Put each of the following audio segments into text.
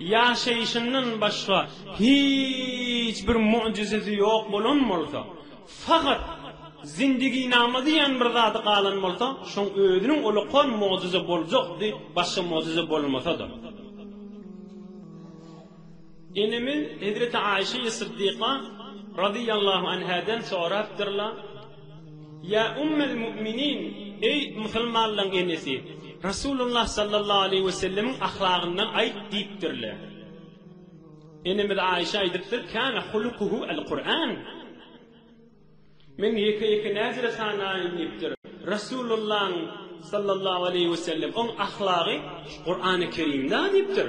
Ýaşaýşyndan başga hiç bir möjüzesi ýok bolan bolsa, fakat zindiginama diýen bir zady galan bolsa, şoň özüniň ulakan möjüze boljakdy, başga möjüze bolmasa-da. Enemiz hezreti Aişeýi Syddyka radiyallahu anhadan sorapdyrlar. Ýa Ummel Mu'minin, eý, musulmanlaryň enesi, Resulullah sallallahu aleýhi we sellemiň ahlagyndan aýt diýipdirler. Enemiz Aýşa aýdypdyr, Kana hulukuhu al-Kur'an. Men ýeke-ýeke näzire sanaýyn diýipdir. Resulullahyň sallallahu aleýhi we sellem oň ahlagy Kur'an-y Kerimde diýipdir.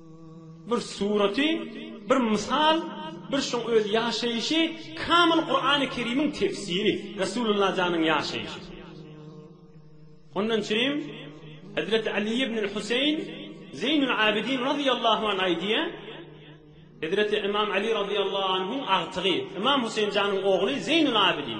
Bir suraty, bir mysal, bir şoň öz ýaşaýşy kamyl Kurany Kerimiň tefsiri, Resulullah janyň ýaşaýşy. Ondan çynym Hezreti Ali ibnül Huseýn Zeýnül Abidin razyýallahu anh aýdýa, Hezreti Imam Ali razyýallahu anhuň agtygy, Imam Huseýn janyň ogly Zeýnül Abidin.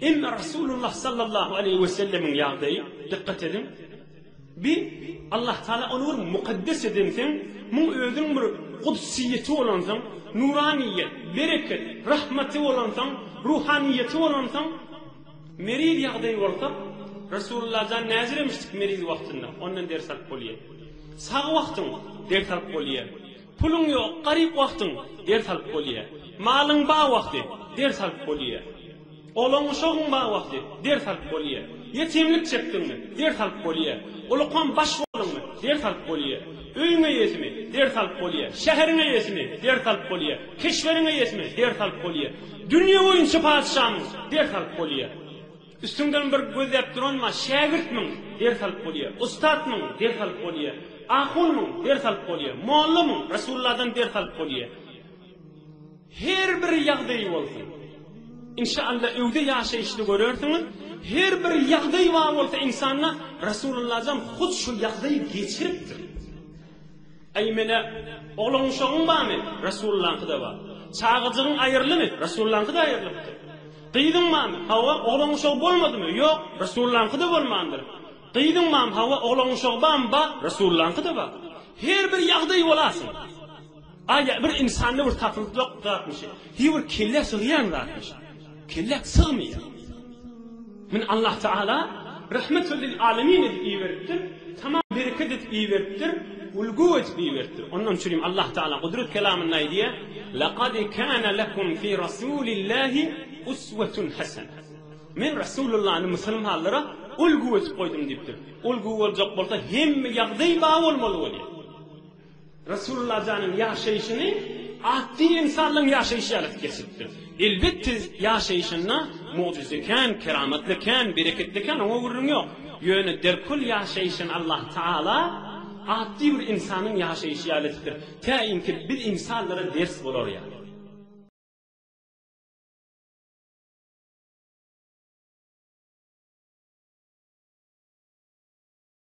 Emma Rasulullah sallallahu aleýhi we sellemiň ýagdaýy, dykgat ediň, bi Allah Taala ony bir mukaddes edensoň, muň özüň bir gudsyýeti bolansoň, nuranyýet, bereket, rahmaty bolansoň, ruhanyýeti bolansoň, meriz ýagdaýy bolsa, Rasulullah jan näzir emişdik meriz wagtynda, ondan ders alyp bolýar. Sag wagtyň ders alyp bolýar. Puluň ýok, garyp wagtyň, ders alyp bolýa. Malyň bar wagty, ders alyp bolýa. Olaň-uşagyň bar wagty, ders alyp bolýa. Ýetimlik çekdiňmi, ders alyp bolýa. Ulukam baş bolduňmy, ders alyp bolýa. Öýüň eýesimi, ders alyp bolýa. Şäheriň eýesimi, ders alyp bolýa. Keşberiň eýesimi, ders alyp bolýa. Dünýe boýunça patyşamyň, ders alyp bolýa. Üstüňden bir gözläp duranma, şägirtmiň, ders alyp bolýa, ussatmyň, ders alyp bolýa, ahunmyň, ders alyp bolýa, mollamyň, Resulullahdan ders alyp bolýa. Her bir ýagdaýy bolsun. Inşa Allah öwde ýaşaýyşda görersiňiz, her bir ýagdaý bar bolsa insanda, Resulullahjan hut şu ýagdaýy geçiripdir. Eý, menä, oglan-uşagyň barmy? Resulyllaňky-da bar. Çagajygyň aýyrlymy? Resulyllaňky-da aýyrlypdyr. Gyzyň barmy? Hawa, oglan-uşagy bolmadymy? Ýok, Resulyllaňky-da bolmandyr. Gyzyň barmy? Hawa, oglan-uşagy barmy? Bar, Resulyllaňky-da bar. Her bir ýagdaý bolarsyň. Aý, bir insanda bir tapylyp ýok zatmyş, hiý, bir kellä sygýan zatmyş. Kelläk sygmaýar. Men Allah Taala rahmetel lil alemin edip iberipdir, tamam bereket edip iberipdir, ulgu edip iberipdir. Ondan üçin hem Allah Taala Gudrat kelamynda aýdýar, Laqad kana lekum fi Rasulillahi uswatun hasana. Men Rasulullany musulmanlara ulgu edip goýdum diýipdir. Ulgu boljak bolsa hemme ýagdaý ba bolmaly bolýar. Resululajanyň ýaşaýşyny atdy ensarlaryň ýaşaýşy ýaly edip geçipdir. Elbetde ýaşaýşynda mugjyza kän, keramatly kän, bereketli kän oňa gürrüň ýok. Ýöne derkül ýaşaýşyny Allah Taala atdy bir ensanyň ýaşaýşy ýaly edipdir. Tä inki biz ensallara ders bolar ýaly.